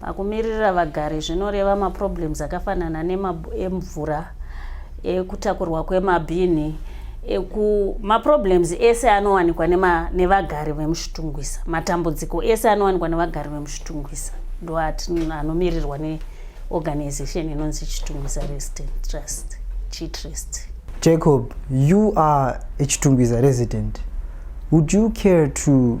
Pakumiririra vagari zvinoreva maproblems akafanana nemvura, ekutakurwa kwemabhini, eku maproblems ese anowanikwa nevagari vemuchitungwisa matambudziko ese anowanikwa nevagari vemuchitungwisa ndo anomirirwa neorganization inonzi chitungwisa resident trust chitrust jacob you are a chitungwisa resident would you care to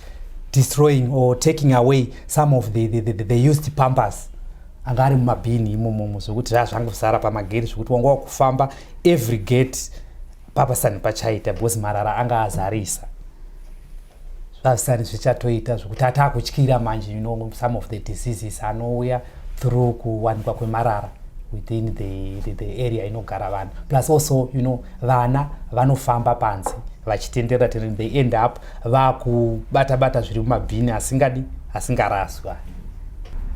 destroying or taking away some of the, the, the, the used pampers anga ari mumabhini imomomo zvekuti zvaa zvangosara pamagate zvekuti wanga wakufamba every gate papasani pachaita because marara anga azarisa zvazvisani zvichatoita zvekuti ataa kutyira manje you know some of the diseases anouya through kuwanikwa kwemarara within the, the, the area inogara vanhu plus also you know vana vanofamba panze vachitenderera tenderera they end up vakubata bata zviri mumabhini asingadi asingaraswa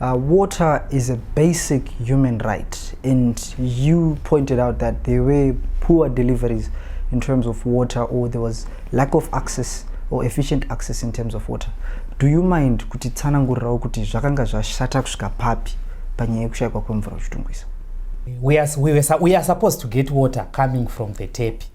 Uh, water is a basic human right, and you pointed out that there were poor deliveries in terms of water, or there was lack of access or efficient access in terms of water. Do you mind kuti tsanangurirawo kuti zvakanga zvashata kusvika papi panyaya yekushaikwa kwemvura uchitungwisa? We are, we, were, we are supposed to get water coming from the tape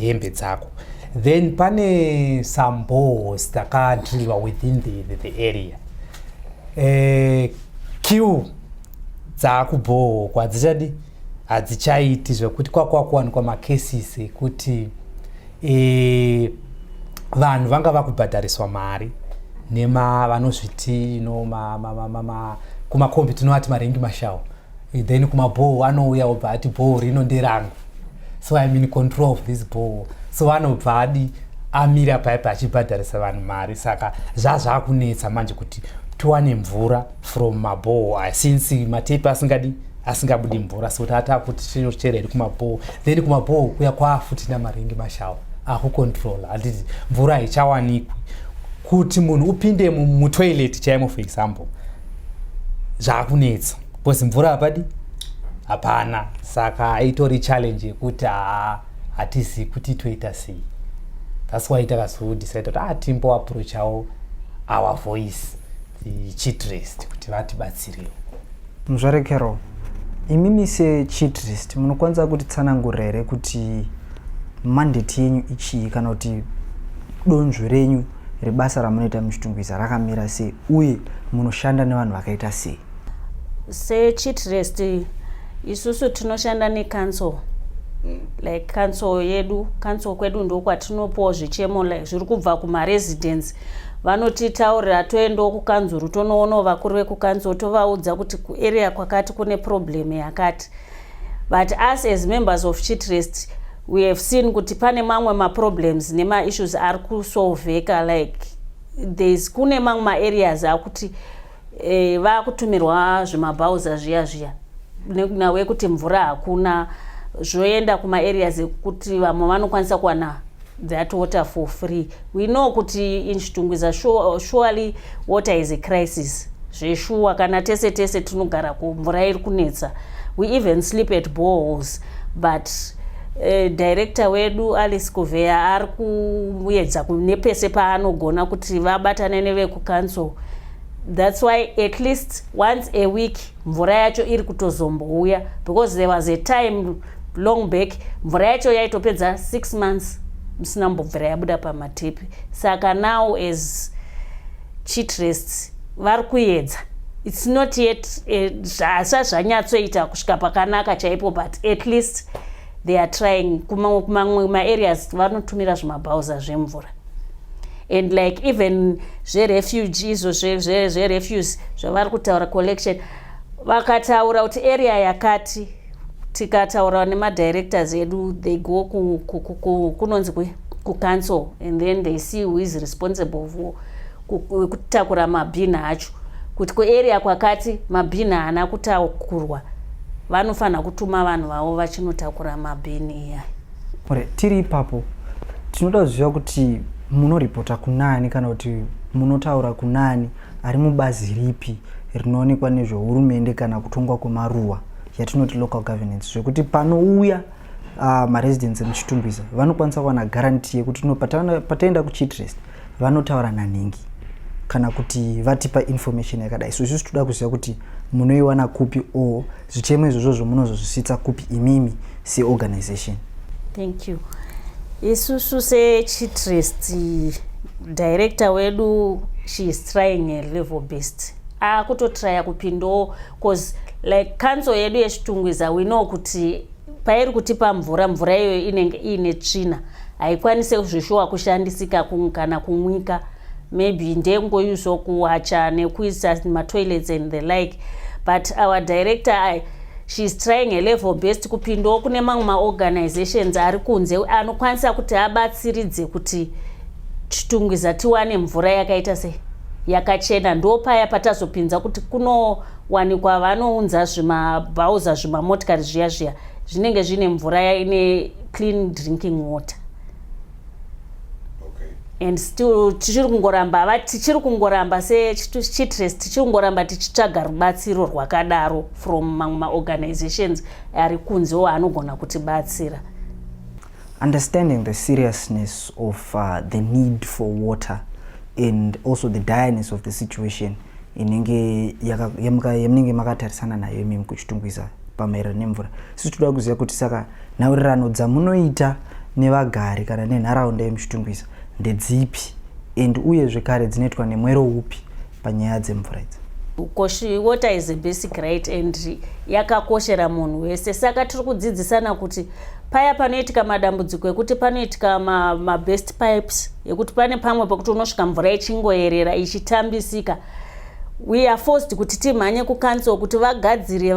hembe dzako then pane some balls dzakadrilliwa within the, the, the area eh, q dzaakubhoho kwadzichadi hadzichaiti zvekuti kwakwakuwanikwa macases ekuti eh, vanhu vanga vakubhadhariswa mari nema vanozviti no, ma, ma, ma, ma, ma, kumakombi tinovati marengi mashawo then kumabhoo anouya obva ati bhoo rino nderangu so im in control of this bhoo so anobva adi amira paipa achibhadharisa vanhu mari saka zvazvakunetsa manje kuti tiwane mvura from mabhoo aya since matepi asingadi asingabudi mvura so tata kuti tinochera iri kumabhoo then kumabhoo kuya kwafuti namaringi mashawa akucontrola handiti mvura haichawanikwi kuti munhu upinde mutoilet chaimo for example zvakunetsa because mvura hapadi hapana saka itori challenge yekuti haa hatizivi kuti toita sei thats why takazodecide kuti ah timbo approachawo our voice chitrest kuti vatibatsirewo muzvare carol imimi sechitrest munokwanisa kuti tsanangurira here kuti mandate yenyu ichii kana kuti donzvo renyu rebasa ramunoita muchitungwiza rakamira sei uye munoshanda nevanhu vakaita sei sechitrest isusu tinoshanda necouncil mm. like council yedu council kwedu ndokwatinopoo zvichemo like zviri kubva kumaresidence vanotitaurira toendawo kukanzuru tonoonawo vakuru vekukanzuru tovaudza kuti kuarea kwakati kune problem yakati but us as members of chitrest we have seen kuti pane mamwe maproblems nemaissues ari kusolveka like thereis kune mamwe maareas akuti eh, vakutumirwa zvemabhauza zviya zviya nhau yekuti mvura hakuna zvoenda kumaareas ekuti vamwe vanokwanisa kuwana that water for free we know kuti in chitungwiza surely water is a crisis zveshuwa kana tese tese tinogara ko mvura iri kunetsa we even sleep at boreholes but uh, director wedu alice kuveya ari kuyedza nepese paanogona kuti vabatane nevekucouncil that's why at least once a week mvura yacho iri kutozombouya because there was a time long back mvura yacho yaitopedza six months musina mbobvira yabuda pamatepi saka now as chitrest vari kuyedza its not yet eh, zvasa zvanyatsoita kusvika pakanaka chaipo but at least they are trying kumamwe maareas vanotumira zvimabhauza zvemvura and like even zverefuge izvo zverefuse zvavari kutaura collection vakataura kuti area yakati tikataura nemadirectors edu they go kunonzi ku, ku, ku, ku, kucancel and then they see who is responsible for kutakura mabhina acho kuti kuarea kwakati mabhina haana kutakurwa vanofanira kutuma vanhu vavo vachinotakura mabhini iya ore tiri ipapo tinoda kuziva kuti munoripota kunani kana kuti munotaura kunani ari mubazi ripi rinoonekwa nezvehurumende kana kutongwa kwemaruwa yatinoti local governance zvekuti panouya uh, ah, maresidents emuchitumbisa vanokwanisa kuwana guarantee yekuti no pataenda kuchitrest vanotaura nanhingi kana kuti vatipa information yakadai so isusu toda kuziva kuti munoiwana kupi o zvichemo izvozvo zvomunozozvisvitsa kupi imimi seorganization thank you isusu sechitrest director wedu she is trying a level best akutotraya kupindawo bcause like council yedu yechitungwiza we know kuti pairi kutipa mvura mvura iyoyo inenge iine tsvina haikwanise zveshuwa kushandisika kana kumwika maybe ndekungoyuso kuwacha nekuisa matoilets and the like but our director I, sheis trying a level best kupindawo kune mamwe maorganizations ari kunze anokwanisa kuti abatsiridze kuti chitungwiza tiwane mvura yakaita sei yakachena ndopaya patazopinza kuti kunowanikwa vanounza zvimabhauza zvimamotikari zviya zviya zvinenge zvine mvura yaine clean drinking water and still tichiri kungoramba va tichiri kungoramba sechitres tichiri kungoramba tichitsvaga rubatsiro rwakadaro from mamwe maorganizations ari kunze wo anogona kutibatsira Understanding the seriousness of uh, the need for water and also the direness of the situation inenge yamunenge makatarisana nayo imimi kuchitungwiza pamaererano nemvura sisi toda kuziva kuti saka nhaurirano dzamunoita nevagari kana nenharaunda yemuchitungwiza ndedzipi and uye zvekare dzinoitwa nemwero upi panyaya dzemvura idzi koshi water is a basic right and yakakoshera munhu wese saka tiri kudzidzisana kuti paya panoitika madambudziko ekuti panoitika mabest ma pipes ekuti pane pamwe pekuti unosvika mvura ichingoyerera ichitambisika we are forced kuti timhanye kucouncil kuti vagadzire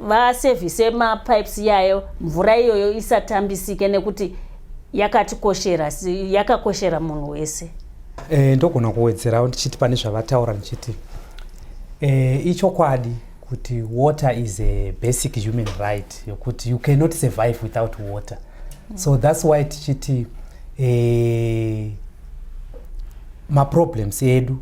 vasevhise va mapipes iyayo mvura iyoyo isatambisike nekuti yakatikoshera yakakoshera munhu wese E, ndogona kuwedzerawo ndichiti pane zvavataura ndichiti e, ichokwadi kuti water is a basic human right yokuti you cannot survive without water mm. so thats why tichiti e, maproblems edu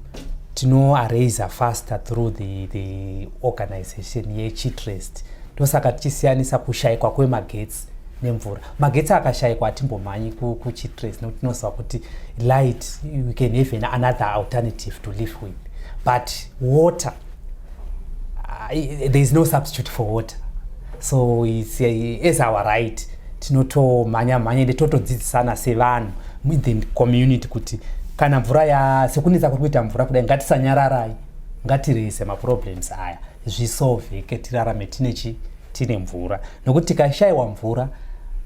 tinoaraise faster through the, the organization yechitrest ndosaka tichisiyanisa kushaikwa kwemagetsi nemvura magetsi akashaikwa hatimbomhanyi kuchitres nekuti tinoziva kuti light you can have an another alternative to live with but water uh, there is no substitute for water so it's, uh, as our right tinotomhanya mhanya ende totodzidzisana sevanhu within community kuti kana mvura ya sekunetsa kuri kuita mvura kudai ngatisanyararai ngatirese maproblems aya zvisolveke tirarame tine chi tine mvura nokuti tikashaiwa mvura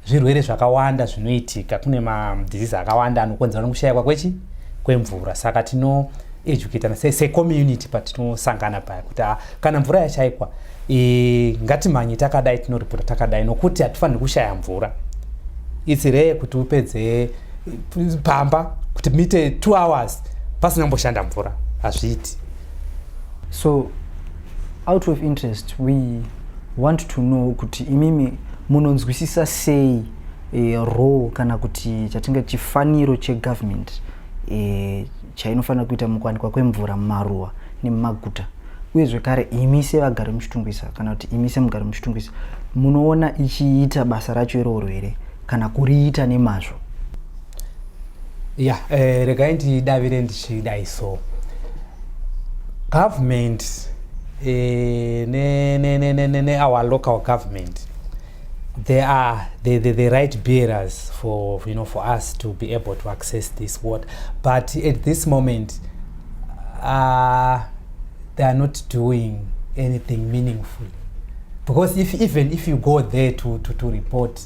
zvirwere zvakawanda zvinoitika kune madhizizi akawanda anokonzera nokushaikwa kwechi kwemvura saka tino educatana secommunity patinosangana paya kuti ah, kana mvura yashaikwa e, ngatimhanye takadai tinoripota takadai nokuti hatifaniri kushaya mvura itsi ree kuti upedze pamba kuti mite two hours pasina kumboshanda mvura hazviiti so Out of interest we want to know kuti imimi munonzwisisa sei e, role kana kuti chatinga chifaniro chegovernment e, chainofanira kuita mukuwanikwa kwemvura mumaruwa nemumaguta uye zvekare imi sevagari muchitungwisa kana kuti imi semugari muchitungwisa munoona ichiita basa racho iroro here kana kuriita nemazvo ya yeah, eh, regai ndidavire ndichidai so government eh, ne, ne, ne, ne, ne, ne our local government they are the, the, the right bearers for you know for us to be able to access this water but at this moment uh, they are not doing anything meaningful because if even if you go there to, to, to report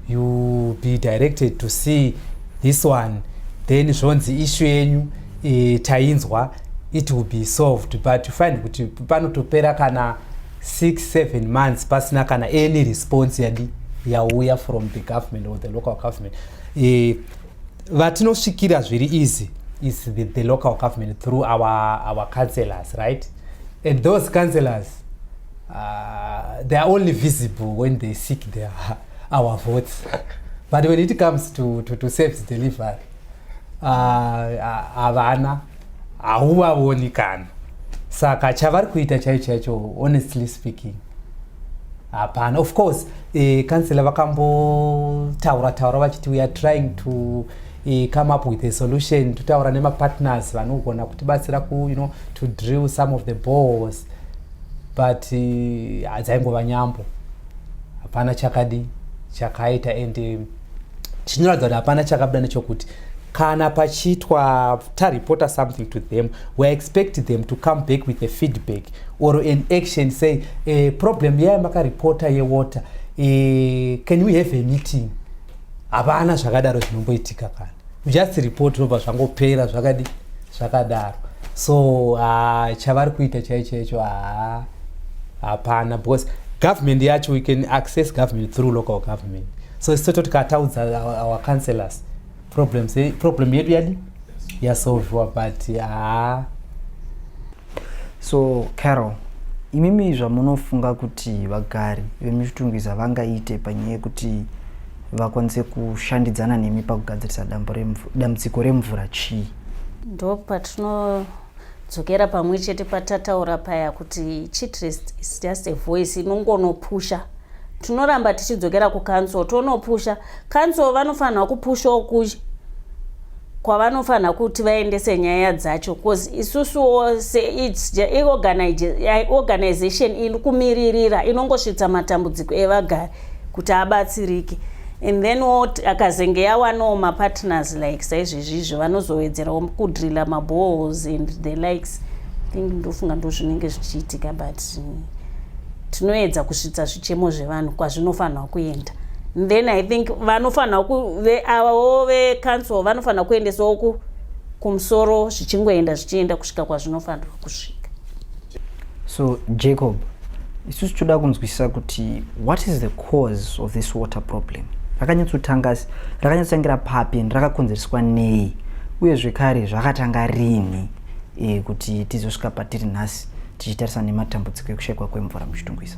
you be directed to see this one then zvonzi ishu yenyu e, tainzwa it will be solved but you find kuti panotopera kana 67 months pasina kana any response yadi yauya from the government or the local government e, vatinosvikira zviri easy is the, the local government through our, our councellors right and those councellors Uh, they are only visible when they seek their, our votes. But when it comes to, to, to service delivery, havana uh, hauvavoni kana saka chavari kuita chaicho chaicho honestly speaking hapana of course eh, kansela vakambotaura taura vachiti we are trying to i come up with a solution totaura nemapartners vanogona kutibatsira ku you know to drill some of the balls but eh, hadzaingova uh, nyambo hapana chakadi chakaita and eh, chinoratidza kuti hapana chakabuda nechokuti kana pachiitwa tareporter something to them we expect them to come back with a feedback or an action say uh, problem yaya makareporter yewater uh, can we have a meeting hapana zvakadaro zvinomboitika kana just report zvinobva zvangopera zvakadi zvakadaro so uh, chavari kuita chai chaicho haa hapana because government yacho we can access government through local government so isu toti kataudza our councellors problems problem yedu yadi yasolviwa but haa ah. so carol imimi zvamunofunga kuti vagari vemuchitungwiza vangaite panyaya yekuti vakwanise kushandidzana nemi pakugadzirisa dambudziko remvura chii ndo patinodzokera pamwe chete patataura paya kuti chitrest is just a voice inongonopusha tinoramba tichidzokera kucouncil tonopusha council vanofanirwa kupushawo kuchi kwavanofanira kuti vaendese nyaya dzacho bcause isusuwo seorganization iri kumiririra inongosvitsa matambudziko evagari kuti abatsirike and then akazenge yawanawo mapartners like saizvezvizvo vanozowedzerawo kudrilla mabohos and the likes think ndofunga ndo zvinenge zvichiitika but mm, tinoedza kusvitsa zvichemo zvevanhu kwazvinofanirwa kuenda then i think vanofanira kuve avawo vecouncil vanofanira kuendesawo ku kumusoro zvichingoenda zvichienda kusvika kwazvinofanirwa kusvika so jacob isusu toda kunzwisisa kuti what is the cause of this water problem rakanyatsotanga rakanyatsotangira papi and rakakonzereswa nei uye zvekare zvakatanga rini e, kuti tizosvika patiri nhasi tichitarisa nematambudziko ekushayikwa kwemvura muchitungwisa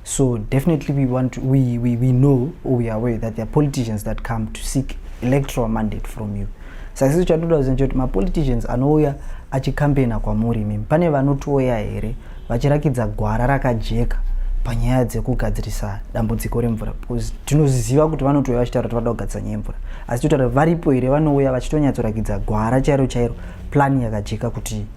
So definitely we want to, we, we, we know or we are aware that there are politicians that come to seek electoral mandate from you. Saka sisi chatoda kuziva kuti mapoliticians anouya achikampeina kwamuri imimi pane vanotouya here vachirakidza gwara rakajeka panyaya dzekugadzirisa dambudziko remvura because tinozviziva kuti vanotouya vachitaura kuti vada kugadzirisa nyaya yemvura asi totaura varipo here vanouya vachitonyatsorakidza gwara chairo chairo plani yakajeka kuti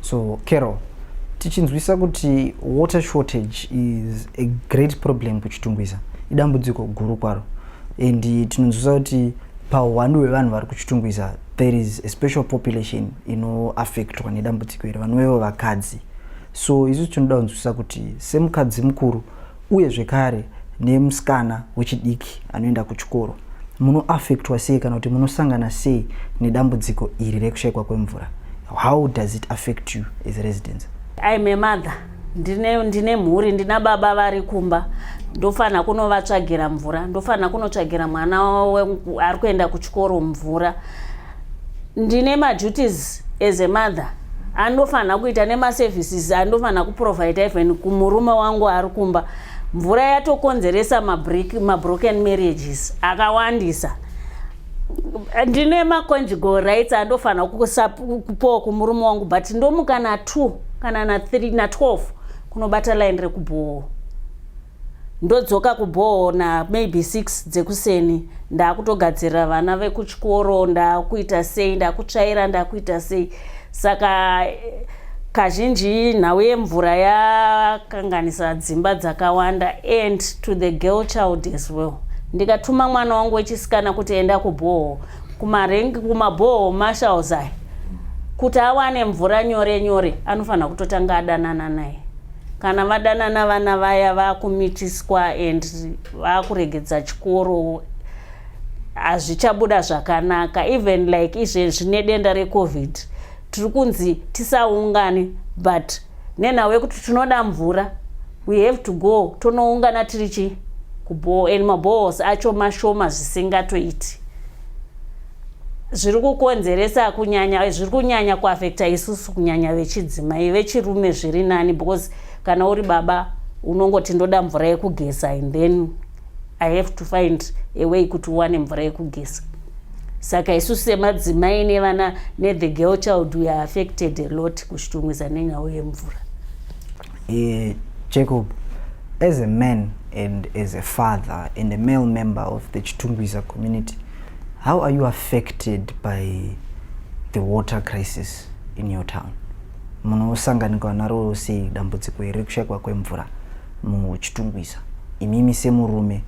so carol tichinzwisa kuti water shortage is a great problem kuchitungwiza idambudziko guru kwaro and tinonzwisa kuti pahuwandu hwevanhu vari kuchitungwiza there is a special population inoaffectwa nedambudziko iri vanovevo vakadzi so isu tinoda kunzwisisa kuti semukadzi mukuru uye zvekare nemusikana wechidiki anoenda kuchikoro munoafectwa sei kana kuti munosangana sei nedambudziko iri rekushaikwa kwemvura how does it affect you as residence im a mother ndine, ndine mhuri ndina baba vari kumba ndofanira kunovatsvagira mvura ndofanira kunotsvagira mwana ari kuenda kuchikoro mvura ndine maduties as a mother andofanira kuita nemaservices andofanira kuprovida even kumurume wangu ari kumba mvura yatokonzeresa mabroken marriages akawandisa ndine maconjugal rights andofanira kusakupowa kumurume wangu but ndomuka na2 kana na3 na12 kunobata line rekubhowo ndodzoka kubhoo na maybe 6 dzekuseni ndakutogadzirira vana vekuchikoro ndakuita sei ndakutsvaira ndakuita sei saka kazhinji nhau yemvura yakanganisa dzimba dzakawanda and to the girl child as well ndikatuma mwana wangu wechisikana kuti enda kubhoo kumarengi kumabhoo mashalzai kuti awane mvura nyore nyore anofanira kutotanga adanana naye kana vadanana vana vaya vakumitiswa and vakuregedza chikoro hazvichabuda zvakanaka even like izve zvine denda recovid tiri kunzi tisaungane but nenhau yekuti tinoda mvura we have to go tonoungana tiri chi kubhoo and mabohos acho mashoma zvisingatoiti zviri kukonzeresa kunyanya zviri kunyanya kuafekta isusu kunyanya vechidzimai vechirume zviri nani because kana uri baba unongoti ndoda mvura yekugeza and then i have to find a way kuti uwane mvura yekugeza saka isusu semadzimai nevana nethe girl child weare affected a lot kushitumwiza nenyau yemvura Eh, Jacob, as a man and as a father and a male member of the Chitungwiza community, how are you affected by the water crisis in your town? munosanganikwa naro sei dambudziko here kushaikwa kwemvura muchitungwiza imimi semurume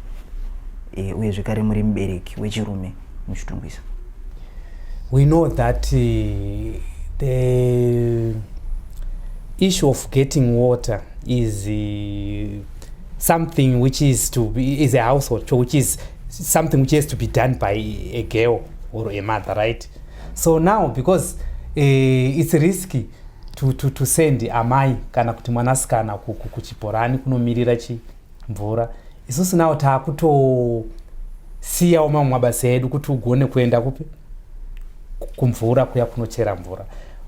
e, uye zvekare muri mubereki wechirume muchitungwisa we know that uh, the issue of getting water is uh, something which is to be, is a household which is something which has to be done by a girl or a mother right so now because uh, it's risky to, to, to send amai kana kuti mwanasikana kuchibhorani kunomirira chi mvura isusu nawo taakutosiyawo mamwe mabasa edu kuti ugone kuenda kupi kumvura kuya kunochera mvura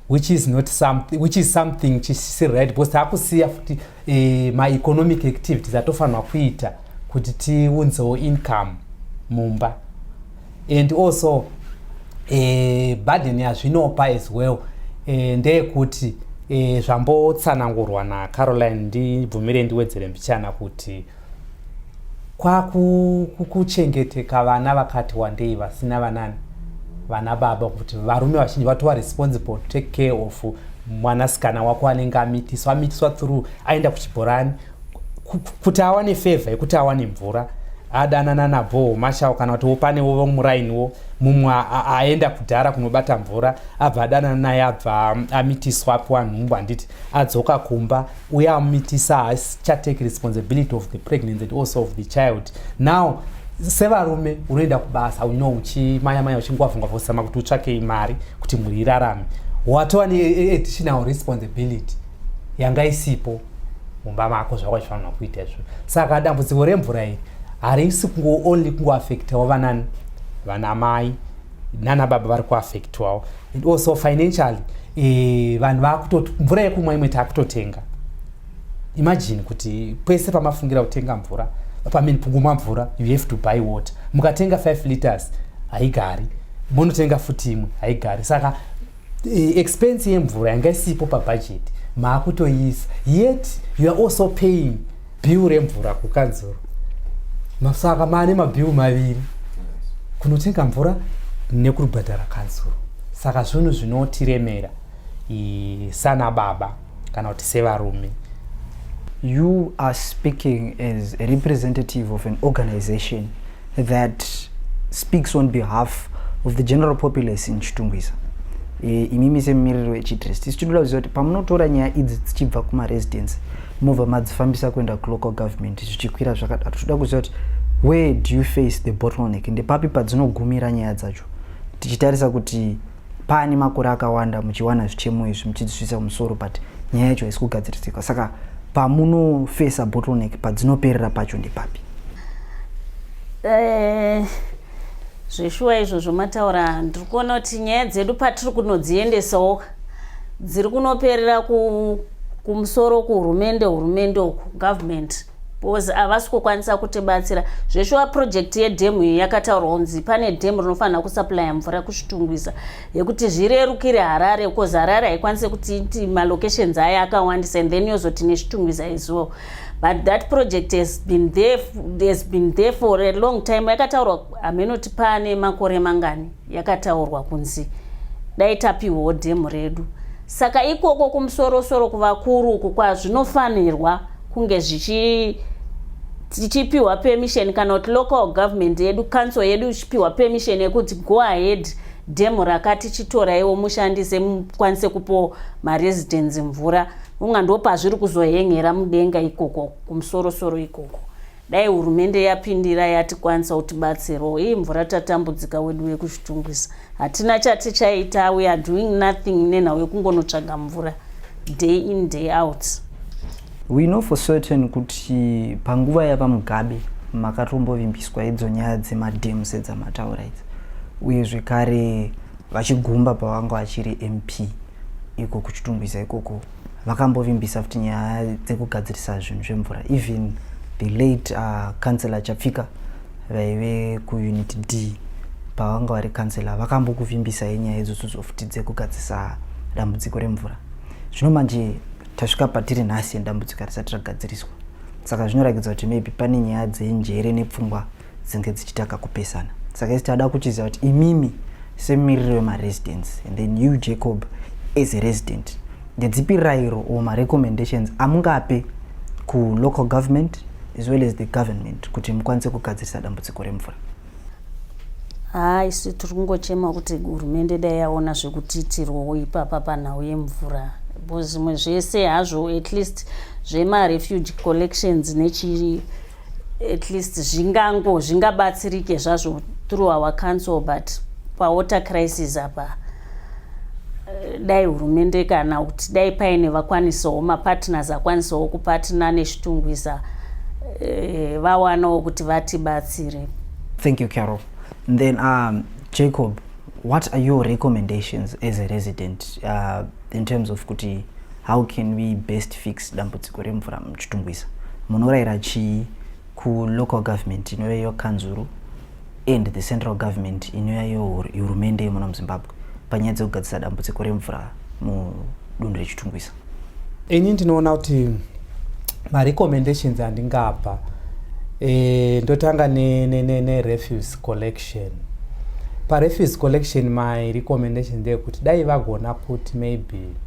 which is not something which is something chisiri right because taakusiya futi e, maeconomic activities atofanirwa kuita kuti tiunzewo income mumba and also uh, eh, burden yazvinopa as well uh, ndeyekuti uh, zvambotsanangurwa nacaroline ndibvumire ndiwedzere mbichana kuti kwakuchengeteka vana vakati wandei vasina vanani vana baba kuti varume vazhinji vatova responsible to take care of mwanasikana wako anenge amitiswa amitiswa through aenda kuchibhorani kuti awane fevha yekuti awane mvura adanana nabhoho mashawo kana kuti wopanewo vomurainiwo mumwe aenda kudhara kunobata mvura abva adanana naye abva amitiswa apiwa nhumbu handiti adzoka kumba uye amumitisa haachatake responsibility of the pregnancy and also of the child now sevarume unoenda kubasa uno uchimaya maya uchingwavungwava usama kuti utsvakei mari kuti mhuri irarame watova neadditional responsibility yanga isipo mumba mako zvako zvifanirwa kuita izvo saka dambudziko remvura iri harisi kungo only kungoafektawo vanani vana mai nana baba vari kuafektiwawo and also financially e, vanhu vakutoti mvura yekumwa imwe takutotenga imagine kuti pese pamafungira kutenga mvura pamini pungumwa mvura you have to buy water mukatenga 5 liters haigari monotenga futi imwe haigari saka Eh, expense yemvura yanga isipo pabudget maakutoiisa yet you are also paying bill remvura kukanzuru saka maane mabill maviri kunotenga mvura nekubhadhara kanzuru saka zvinhu zvinotiremera sana baba kana kuti sevarume you are speaking as a representative of an organization that speaks on behalf of the general populace in chitungwiza e, imimi semumiriri wechitrest isu tinoda kuziva kuti pamunotora nyaya idzi dzichibva kumaresidence mobva madzifambisa kuenda kulocal government zvichikwira zvakadaro tinoda kuziva kuti where do you face the bottleneck ndepapi padzinogumira nyaya dzacho tichitarisa kuti paane makore akawanda muchiwana zvichemo izvi muchidzisvisa kumusoro but nyaya yacho haisi kugadziridzika saka pamunofesa bottleneck padzinoperera pacho ndepapi eh, zveshuwa izvo zvomataura ndiri kuona kuti nyaya dzedu patiri kunodziendesawo dziri kunoperera kumusoro kuhurumende hurumende uku government because havasi kukwanisa kutibatsira zveshuwa project yedhemu iyi yakataurwa kunzi pane dhemu rinofanira kusuplya mvura kuzvitungwiza yekuti zvirerukire harare because harare haikwanise kuti iti malocations ayo akawandisa and then yozoti nezvitungwiza izuwo but that project has been there, has been there for a long time yakataurwa hameno tipane makore mangani yakataurwa kunzi dai tapihwawo dhemu redu saka ikoko kumusorosoro kuvakuru uku kwazvinofanirwa kunge zvichi tichipiwa permission kana kuti local government yedu council yedu ichipiwa permission yekuti go ahead dhemu rakati chitoraiwo mushandise mukwanise kupo maresidence mvura unga ndopazviri kuzohengera mudenga ikoko kumusorosoro ikoko Dai hurumende yapindira yatikwanisa kutibatsirawo. Hii mvura tatambudzika wedu wekuzvitungwisa. Hatina chatichaita we are doing nothing nenhau yekungonotsvaga mvura day in day out. We know for certain kuti panguva yaVaMugabe makatombovimbiswa idzo nyaya dzemadam sedzamataura idzi uye zvekare vachigumba pavanga vachiri mp iko kuchitungwiza ikoko vakambovimbisa futi nyaya dzekugadzirisa zvinhu zvemvura even the late uh, councilor chapfika vaive kuunit d pavanga vari councilor vakambokuvimbisa yenyaya idzodzodzo futi dzekugadzirisa dambudziko remvura zvino manje tasvika patiri nhasi dambudziko harisati ragadziriswa saka zvinorakidza kuti maybe pane nyaya dzenjere nepfungwa dzinge dzichitanga kupesana saka isi tada kuchiziva kuti imimi semumiriri wemaresidence and then you jacob as a resident ndedzipi rairo or marecommendations amungape kulocal government as well as the government kuti mukwanise kugadzirisa dambudziko remvura haa isu tiri kungochema kuti hurumende dai yaona zvekutiitirwawo ipapa panhau yemvura bcause zvimwe zvese hazvo at least zvemarefuge collections nechii at least zvingango zvingabatsirike zvazvo through our council but pawater crisis apa eh, dai hurumende kana kuti dai paine vakwanisawo mapartners akwanisawo kupatina nechitungwiza eh, vawanawo kuti vatibatsire thank you carol then um, jacob what are your recommendations as a resident uh, in terms of kuti How can we best fix dambudziko remvura muchitungwiza? Munoraira chii kulocal government inova iyo kanzuru and the central government inova iyo hurumende yemuno muzimbabwe panyaya dzekugadzisa dambudziko remvura mudunhu rechitungwiza? Ini ndinoona kuti marecommendations andingapa e, ndotanga nerefuse ne, ne collection parefuse collection my recommendation ndeyekuti dai vagona kuti maybe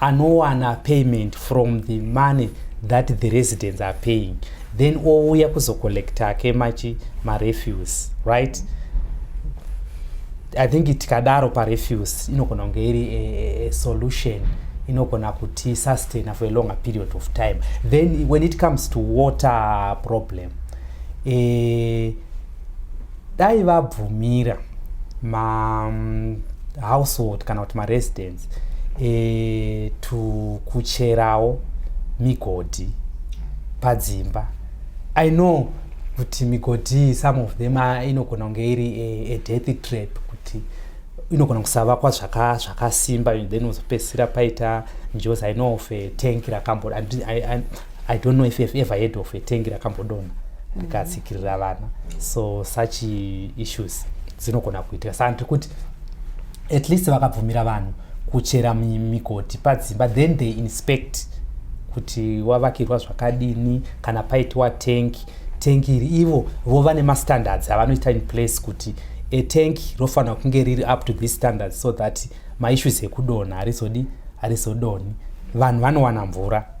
anowana payment from the money that the residents are paying then ouya kuzocollecta ke machi marefuse right i think tikadaro parefuse inogona kunge iri a, a, a solution inogona kuti sustaina for a longer period of time then when it comes to water problem eh, dai vabvumira mahousehold kana kuti maresidence e, eh, tukucherawo migodhi padzimba i know kuti migodhi some of them ah, inogona kunge iri a, a death trap kuti inogona kusavakwa zvakasimba then uzopedzisira paita njozi i know of a tank rakambo i don't know if you've ever heard of a tengi rakambodonha rikatsikirira vana so such issues dzinogona kuitika saka ndiri kuti at least vakabvumira vanhu kuchera migoti padzimba then they inspect kuti wavakirwa zvakadini kana paitiwa tank tank iri ivo vova nemastandards avanoita in place kuti a tank rofanira kunge riri up to this standards so that maissues ekudonha harizodi harizodoni vanhu vanowana mvura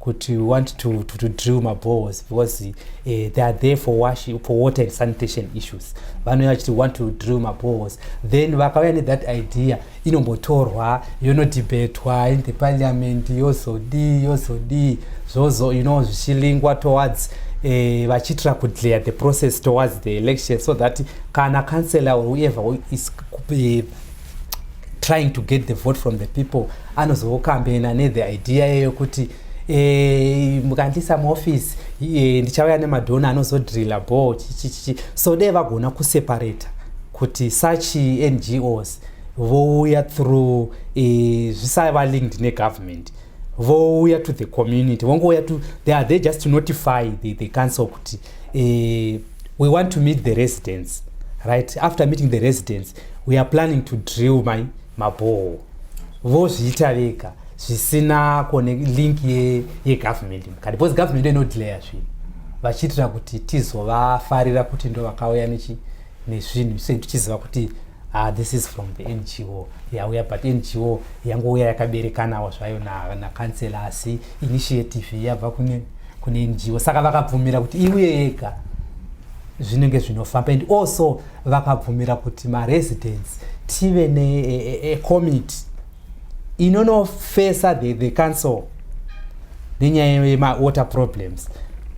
kuti we want to, to, to drill mabohos because uh, they are there for, wash, for water and sanitation issues vanouya vachiti want to drill mabohos then vakauya nethat idea inombotorwa yonodhibhetwa in the parliament yozodii yozodii zvozo you know zvichilingwa towards eh, vachiitira uh, kudlear the process towards the election so that kana councellor or whoever is uh, trying to get the vote from the people anozokambena nethe idea yeyo kuti Eh, mukandisa muoffice eh, ndichauya nemadhona anozodrilla bo chichichichi so dee vagona kuseparata kuti such ngos vouya through eh, zvisava linked negovernment vouya to the community vongouya to they are there just to notify the, the council kuti we want to meet the residents right after meeting the residents we are planning to drill my mabhoo vozviita vega zvisina kone link yegovernment ye mukati because government inodelayer zvinhu vachiitira kuti tizovafarira kuti ndo vakauya nechi nezvinhu so tichiziva kuti ah, this is from the ngo yauya but ngo yangouya yakaberekanawo zvayo nakansela na asi initiative yabva kune, kune ngo saka vakabvumira kuti iuye yega zvinenge zvinofamba and also vakabvumira kuti maresidents tive necommittee e, e, inonofesa the, the council nenyaya yemawater problems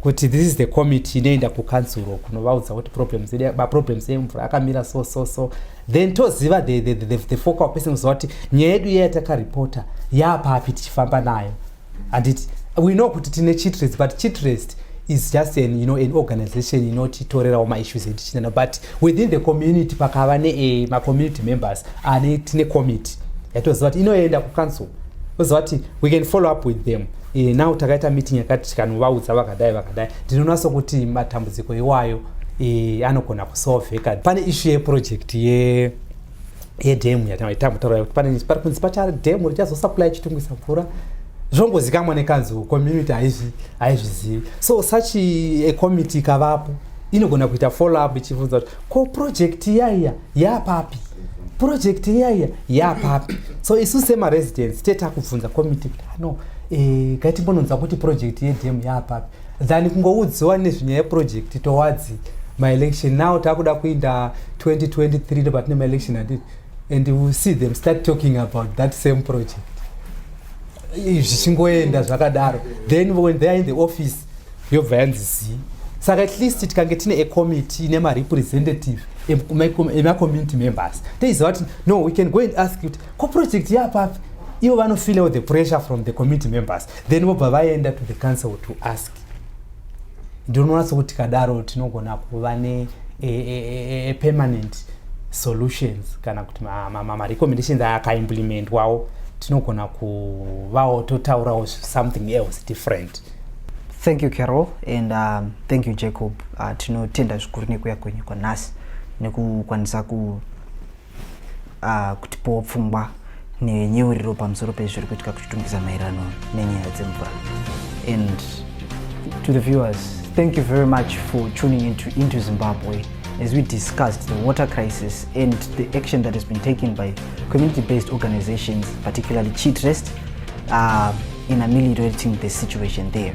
kuti this is the committee inoenda kukansuro kunovaudza kuti problems maproblems emvura akamira so so so then toziva the, the, the, the focal person kuziva kuti nyaya yedu iya yatakaripota yaapapi tichifamba nayo handiti we know kuti tine chitrest but chitrest is just an, you know, an organization inotitorerawo maissues etichitenda but within the community pakava ne macommunity members ane tine committee yatoziva kuti inoenda kucouncil oziva kuti we can follow up with them e, now takaita meeting yakati tikanovaudza vakadai vakadai ndinonatso kuti matambudziko iwayo e, anogona kusolveka pane issue yeproject ye yedhemu yataitaura kuti pane pari kunzi pacha dhemu richazosaplaya chitungisa mvura zvongozikamwa nekanzuro community haizvizivi so such a committee ikavapo inogona kuita follow up ichibvunza kuti ko project iyaiya yapapi project iyaiya yapapi so isu semaresidence tete akubvunza committee kuti ano ah, eh, gatimbononzwa kuti project yedhemu yapapi than kungoudziwa nezvinyaya yeprojekti towards maelection now takuda kuinda 2023 ndopatine maelection handiti and u see them start talking about that same project zvichingoenda zvakadaro then when they are in the office yobva yanzi zii saka at least tikange tine acommittee nemarepresentative emacommunity members teiziva kuti no we can go and ask kuti ko project yapapi ivo vanofeel out the pressure from the committee members then vobva vaenda to the council to ask ndinoona sokuti kadaro tinogona kuva ne a, a, a, a permanent solutions kana kuti marecommendations ma, ma, ma akaimplementwawo tinogona kuvawo totaurawo something else different thank you carol and um, thank you jacob uh, tinotenda zvikuru nekuya kwenyu kwanhasi nekukwanisa ku uh, kutipowo pfungwa nenyeuriro pamusoro pezviri kuitika kuchitungisa maererano nenyaya dzemvura and to the viewers thank you very much for tuning into, into zimbabwe as we discussed the water crisis and the action that has been taken by community-based organizations particularly chitrest uh, in ameliorating the situation there